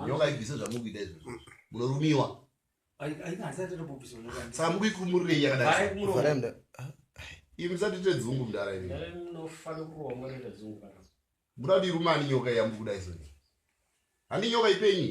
nyoka ibvise zvamukuita izvozvo munorumiwa saka mukuikumurei yakadai imi musatite dzungu mudara imi muda kuti irume ani nyoka iya mukuda izoni handi nyoka ipenyi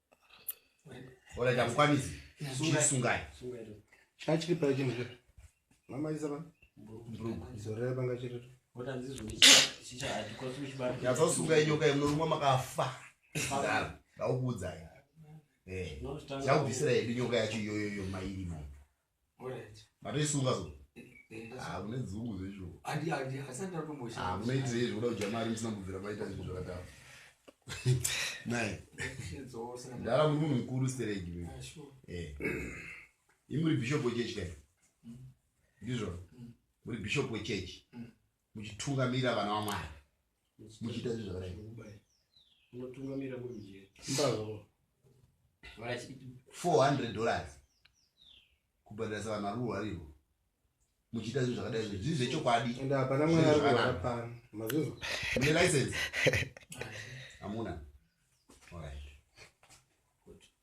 Ora ndakwanisi. Sungai. Sungai. Chachiri pa chimwe chete. Mama isa pa. Mbrugu. Zorera panga chete. Vota ndizvo chicha hadikosi kuchibata. Yazosunga inyoka yemurumwa makafa. Fadala. Ndaukuudzai. Eh. Ndakubvisira yedu nyoka yacho iyoyo mairi mo. matoisunga so ah, une dzungu zvechoamunoitirei zvekuda kudya mari musina kubvira maita zvinhu zvakadaro naye ndara muri munhu mukuru steregi ah, eh. imuri bishop wechechi kai mm. ndizvo mm. muri bishop wechechi mm. muchitungamirira vana vamwari muchiita zvi zvakadai unotungamira kuri mujeri mbazvo 400 dollars kubhadharisa vanhu vari kurwariwo muchiita zvinhu zvakadai zvi zvii zvechokwadi ende hapana mwana ari kurwara pano mazvinzwa mune license hamuna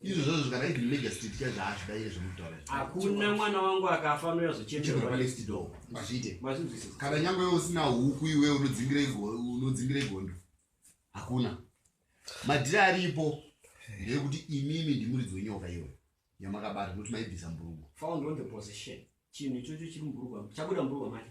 Izvo zvazvo kana even major street chaizvo haazvidaire zvemutaura. Hakuna mwana wangu akafa anoya zvochemberwa pa next door. Hazviite. Mazvinzwisisa. Kana nyangwe iwe usina huku iwe unodzingira unodzingira igondo. Hakuna. Madhiri aripo ndeyekuti imimi ndimuridzi wenyoka iwe yamakabata noti maibvisa mburugu. Found on the position. Chinhu ichocho chiri muburugu chabuda muburugu macho.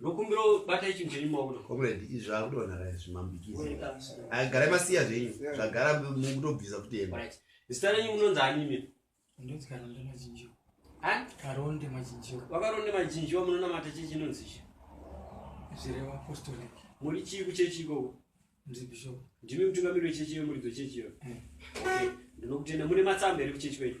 ndokumbira bata ichi mchenyu maona comrade izvi zvakudona ra izvi mambikizagara masiya zvenyu zvagara mukutobvisa kuti enda zita renyu munonzi animi ndonzikarondde machinjiwa karonde machinjiwa vakaronde machinjiwa munonamata chii chinonzi chi zvirewa apostolic muri chii kuchechi ikoko ndiri bishop ndimi mutungamiri wechechi yemuridzo chechi iyo eh. ndinokutenda mune matsamba here kuchechi kwenyu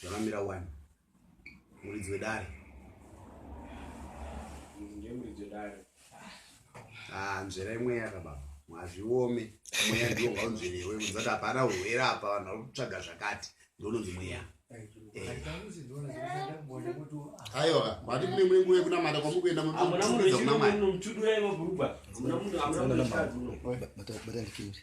Zvakamira wani. Muridzi wedare. Ndiye muridzi wedare. Ah, nzvera imwe yaka baba. Mwazviome. Mweya ndiwo ngaunzverewe. Muzati hapana urwere apa vanhu vari kutsvaga zvakati. Ndononzi mweya. Ayo, bati mune mune nguwe kuna mata kwa mukuenda mu Amuna munhu chimwe munhu mtudu yayi mabhurugwa. Amuna munhu amuna munhu chadu. Bata bata ndikiri.